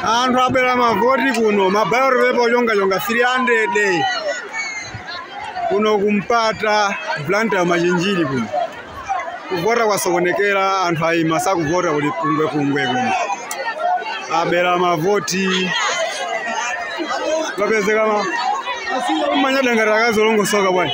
anthu abera mavoti kuno ma ballot paper ochongachonga 300 kuno kumpata Blantyre machinjiri kuno kuvota kwasokonekera anthu ayima sakuvota kuli kungwekungwe kuno abera mavoti apezeka manyadangati akazolongosoka bwana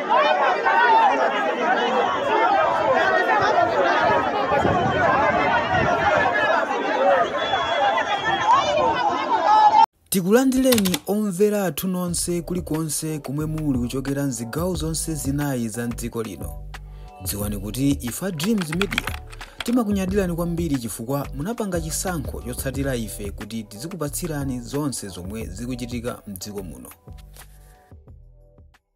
tikulandireni omvera athu nonse kulikonse komwe muli kuchokera mzigawo zonse zinayi za mdziko lino dziwani kuti ife a dreams media timakunyadirani kwambiri chifukwa munapanga chisankho chotsatira ife kuti tizikupatsirani zonse zomwe zikuchitika mdziko muno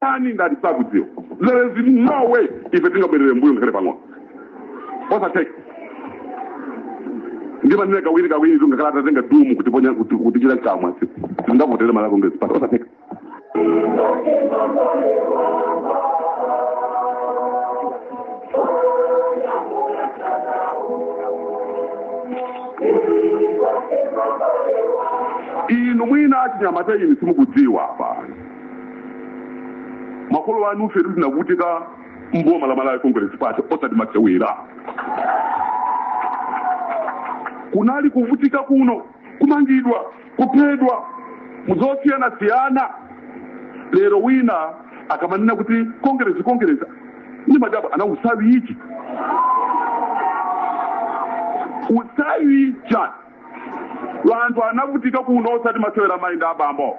ani ndani sakudziwa there is no way ife tingabwerere mbuyo ngakhale pang'ono osatheka ndimanena kawiri kawiri zingakhale atatenga dumu kutiponya kutichita mkamwa sitingavotere malawi congress party osatheka inu mwina achinyamata inu simukudziwa apa makolo anu ife tinavutika mboma la malawi congress party osati masewera kunali kuvutika kuno kumangidwa kuphedwa mu zosiyanasiyana lero wina akamanena kuti kongerezi kongerezi ndi madaba ana usawichi usawicha wanthu anavutika kuno osati masewera mayi ndi abambo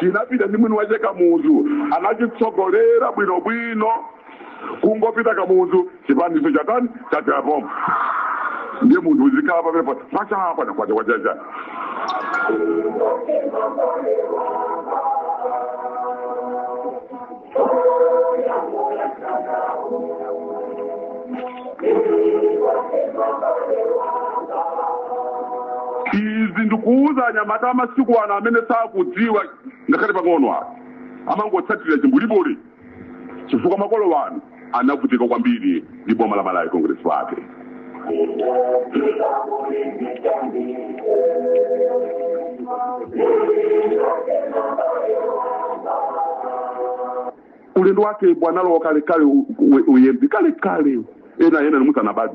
chinapita ndi mwini wake kamuzu anachitsogolera bwinobwino kungopita kamuzu chipani icho chatani chathera pompo ndiye munthu uzikhala pamenepo kwacha apa nakwacha kwachacha izi ndikuwuza anyamata amasiku ano amene sakudziwa ngakhale pang'ono apo amangotsatira chimbulibuli chifukwa makolo wanu anavutika kwambiri ndi boma la malawi congress party ulendo wake bwanalowa kalekale uyembi kalekale ena ena nimusanabadi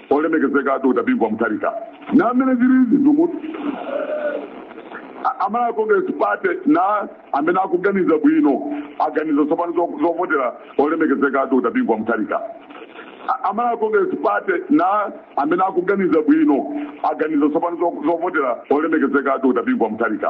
Olemekezeka a Dr Bingu wa Mutharika na mmene zilili zinthu mu a Malawi Congress Party na amene akuganiza bwino aganiza tsopano zovotela Olemekezeka a Dr Bingu wa Mutharika a Malawi Congress Party na amene akuganiza bwino aganiza tsopano zo zovotela Olemekezeka a Dr Bingu wa Mutharika.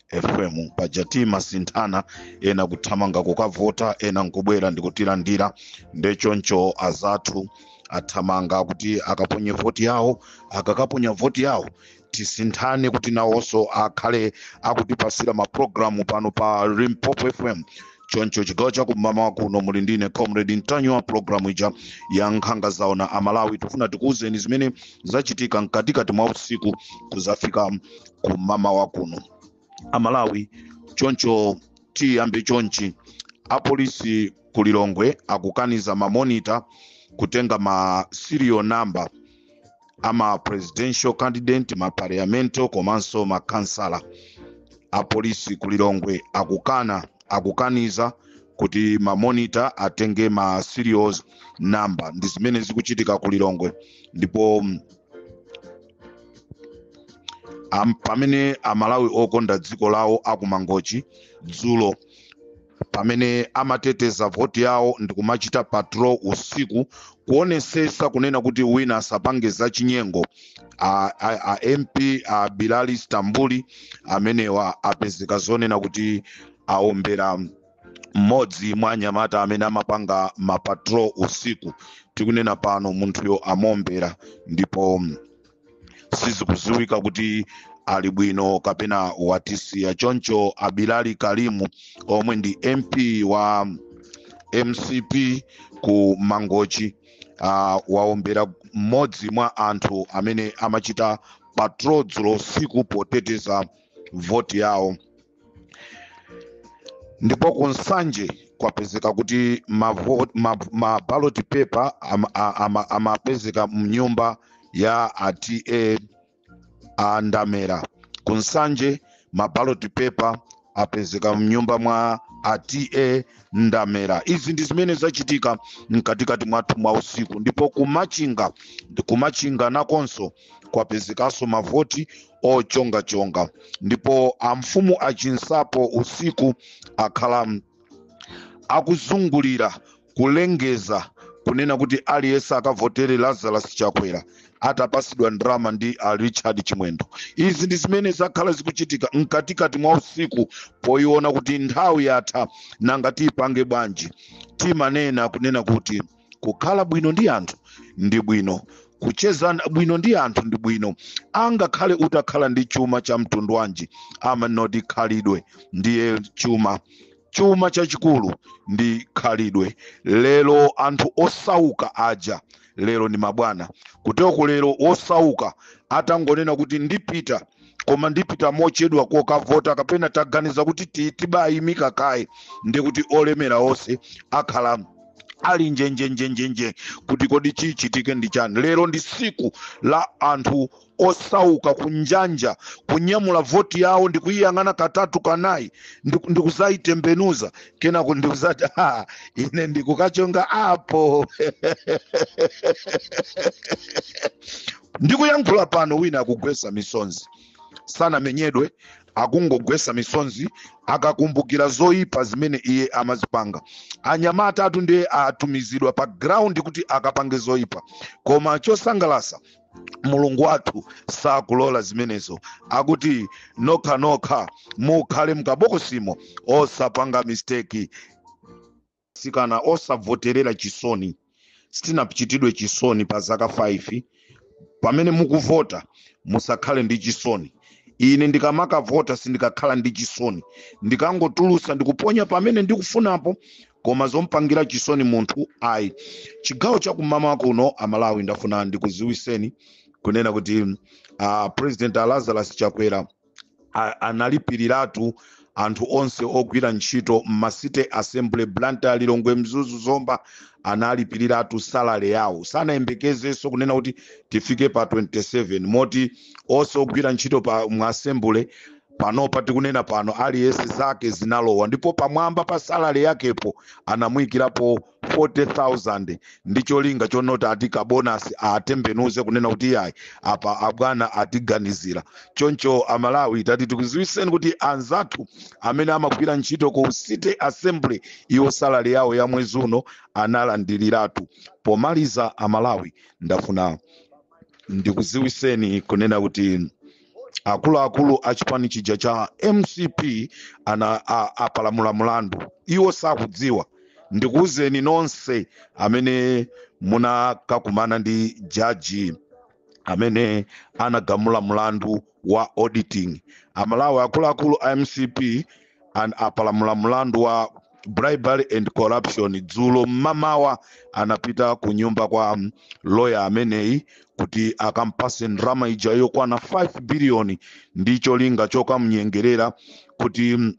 fm paja timasinthana ena kuthamanga kukavota ena nkubwera ndikutilandira nde choncho azathu athamanga kuti akaponye voti yawo akakaponya voti yawo tisinthane kuti nawonso akhale akutipasira mapulogalamu pano pa limpopo fm choncho chigawo chakum'mawa kuno muli ndine comrade ntanyiwa wa pulogalamu ija ya nkhanga zaona amalawi tifuna tikuwuzeni zimene zachitika mkatikati mwa usiku kuzafika kumamawa kuno amalawi choncho tiyambe chonchi apolisi ku lilongwe akukaniza mamonita kutenga ma serial number ama presidential candidate ma parliamento komanso ma kansala apolisi ku lilongwe akukana akukaniza kuti mamonita atenge ma serial number ndi zimene zikuchitika ku lilongwe ndipo mm, Am, pamene amalawi okonda dziko lawo akumangochi dzulo pamene amateteza voti yawo ndikumachita patrol usiku kuonesesa kunena kuti wina asapange za chinyengo a, a, a mp a bilali stambuli amenewa apezeka zonena kuti aombera mmodzi mwa anyamata amene amapanga mapatrol usiku tikunena pano munthuyo amombera ndipo mm, sizikuziwika kuti ali bwino kapena watisiya choncho a bilali kalimu omwe ndi mp wa mcp ku mangochi uh, waombera mmodzi mwa anthu amene amachita patrol dzulo usiku poteteza voti yawo ndipo ku nsanje kwapezeka kuti mavo- ma- ma ballot paper am- a- ama- amapezeka mnyumba ya a ta ndamera ku nsanje ma ballot paper apezeka mnyumba mwa a ta ndamera izi ndi zimene zachitika mkatikati mwathu mwa usiku ndipo kumachinga kumachinga nakonso kwapezekanso mavoti ochongachonga ndipo amfumu achinsapo usiku akhala akuzungulira kulengeza kunena kuti aliyense akavotere lazarus chakwera atapasidwa ndalama ndi a richard chimwendo izi ndi zimene zakhala zikuchitika mkatikati mwa usiku poyiona kuti nthawi yatha nanga tiyipange bwanji timanena kunena kuti kukhala bwino ndi anthu ndi bwino kucheza bwino ndi anthu ndi bwino angakhale utakhala ndi chuma cha mtundu wanji amanoti khalidwe ndiye chuma chuma chachikulu ndi khalidwe lero anthu osauka aja lero ndi mabwana kuteko lero osauka atangonena kuti ndipita koma ndipita mochedwa kokavota kapena taganiza kuti ti- tibayimika kaye ndi kuti olemera onse akhala ali njenjenjenjenje kuti kodi chichitike ndi chani lero ndi siku la anthu osauka kunjanja kunyamula voti yawo ndi kuyiyang'ana katatu kanayi ndikuzayitembenuza kenako ndi kuzati ine ndikukachonga apo ndikuyankhula pano wina akugwesa misonzi sanamenyedwe akungogwesa misonzi akakumbukira zoyipa zimene iye amazipanga anyamata atatu ndiye atumizidwa pa ground kuti akapange zoyipa koma chosangalasa mulungu wathu sakulola zimenezo akuti nokha nokha mukhale mkabokosimo osapanga misteki sikana osavoterera chisoni sitinachitidwe chisoni pa zaka 5 pamene mukuvota musakhale ndi chisoni ine ndikamakavota sindikakhala ndi chisoni ndikangotulusa ndikuponya pamene ndikufunapo koma zompangira chisoni munthu ayi chigawo chakumama kuno amalawi ndafuna ndikuziwiseni kunena kuti a president lazarus chakwera analipiriratu anthu onse ogwira ntchito m'ma city assembly blantyre lilongwe mzuzu zomba analipiriratu salale yawo sanayembekezenso kunena kuti tifike pa 27 moti onse ogwira ntchito pa mu assembly panopa tikunena pano aliyense zake zinalowa ndipo pamwamba pa salale yakepo anamuyikirapo 40,000 ndi cholinga chonoti ati kabonasi atembenuze kunena kuti iyayi apa abwana atiganizira choncho amalawi tati tikuziwiseni kuti anzathu amene amagwira ntchito ku city assembly iwo salale yawo ya mwezi uno analandiriratu pomaliza amalawi ndafuna ndikuziwiseni kunena kuti akuluakulu a chipani chija cha mcp anapalamula mlandu iwo sakudziwa ndikuwuzeni nonse amene munakakumana ndi jaji amene anagamula mlandu wa auditing amalawi akuluakulu a mcp a mcp apalamula mlandu wa bribery and corruption dzulo mmamawa anapita ku nyumba kwa um, loya ameneyi kuti akampase ndrama ija yokwana 5 biliyoni ndi cholinga chokamnyengerera kuti mm,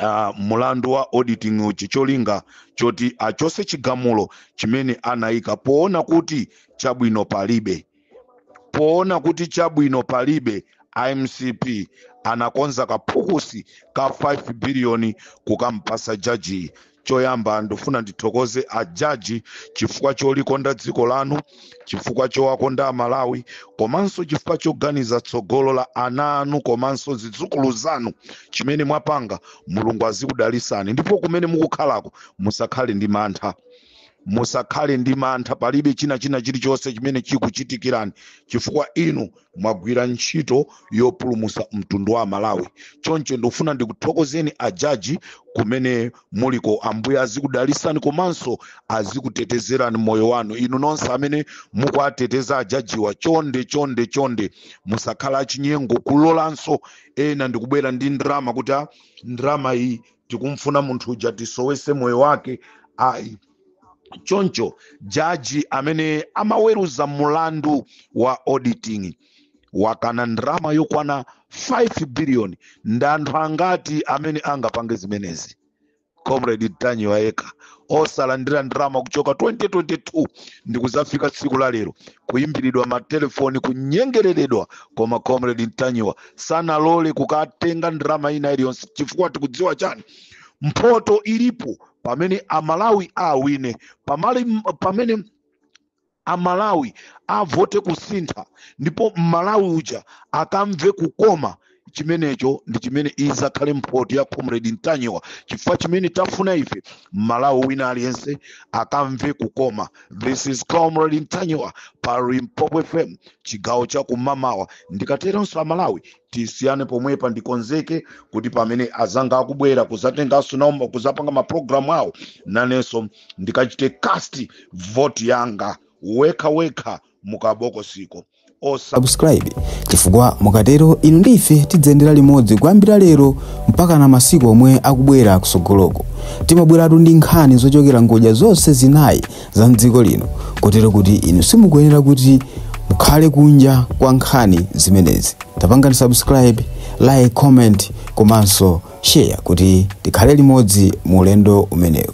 uh, mulandu wa auditing uchi cholinga choti achose chigamulo chimene anayika poona kuti chabwino palibe poona kuti chabwino palibe a mcp anakonza kaphukusi ka 5 biliyoni kukampasa jajiyi choyamba ndifuna ndithokoze a jaji chifukwa cholikonda dziko lanu chifukwa chowakonda amalawi komanso chifukwa choganiza tsogolo la ana anu komanso zidzukulu zanu chimene mwapanga mulungu azikudalisani ndipo kumene mukukhalako musakhale ndi mantha musakhale ndi mantha palibe china china chilichonse chimene chikuchitikirani chifukwa inu mwagwira ntchito yopulumusa mtundu wa malawi choncho ndikufuna ndikuthokozeni ajaji kumene muliko ambuye azikudalisani komanso azikutetezerani moyo wanu inu nonse amene mukuwateteza ajajiwa chonde chonde chonde musakhale achinyengo kulolanso ena ndikubwera ndi ndrama kuti a ndrama iyi tikumfuna munthu uja tisowese moyo wake ayi choncho jaji amene amaweruza mulandu wa auditing wakana ndrama yokwana 5 billion ndi anthu angati amene angapange zimenezi comrade ntanyiwa yekha osalandira ndrama kuchoka 2022 ndikuzafika tsiku la lero kuimbiridwa matelefoni kunyengereredwa koma comrade ntanyiwa sanalole kukatenga ndrama ina iliyonse chifukwa tikudziwa chani mphoto ilipo pamene amalawi awine pamali pamene amalawi avote kusintha ndipo mmalawi uja akamve kukoma chimenecho ndi chimene izakhale mphoto ya comrade ntanyiwa chifukwa chimene tafuna ife mmalawi wina aliyense akamve kukoma this is comrade ntanyiwa pa limpopo fm chigawo cha kumamawa ndikateronso amalawi tisiyane pomwepa ndikonzeke kuti pamene azanga akubwera kuzatenganso nawo ma- kuzapanga maprogramu awo nanenso ndikachite cast vote yanga wekha wekha mukabokosiko subscribe chifukwa mukatero inu ndi ife tidzayendera limodzi kuyambira lero mpakana masiku omwe akubwera kusogoloko timabweratu ndi nkhani zochokera ngodya zonse zinayi za mdziko lino kotero kuti inu simukuyenera kuti mukhale kunja kwa nkhani zimenezi tapangani subscribe like comment komanso share kuti tikhale limodzi mu ulendo umenewu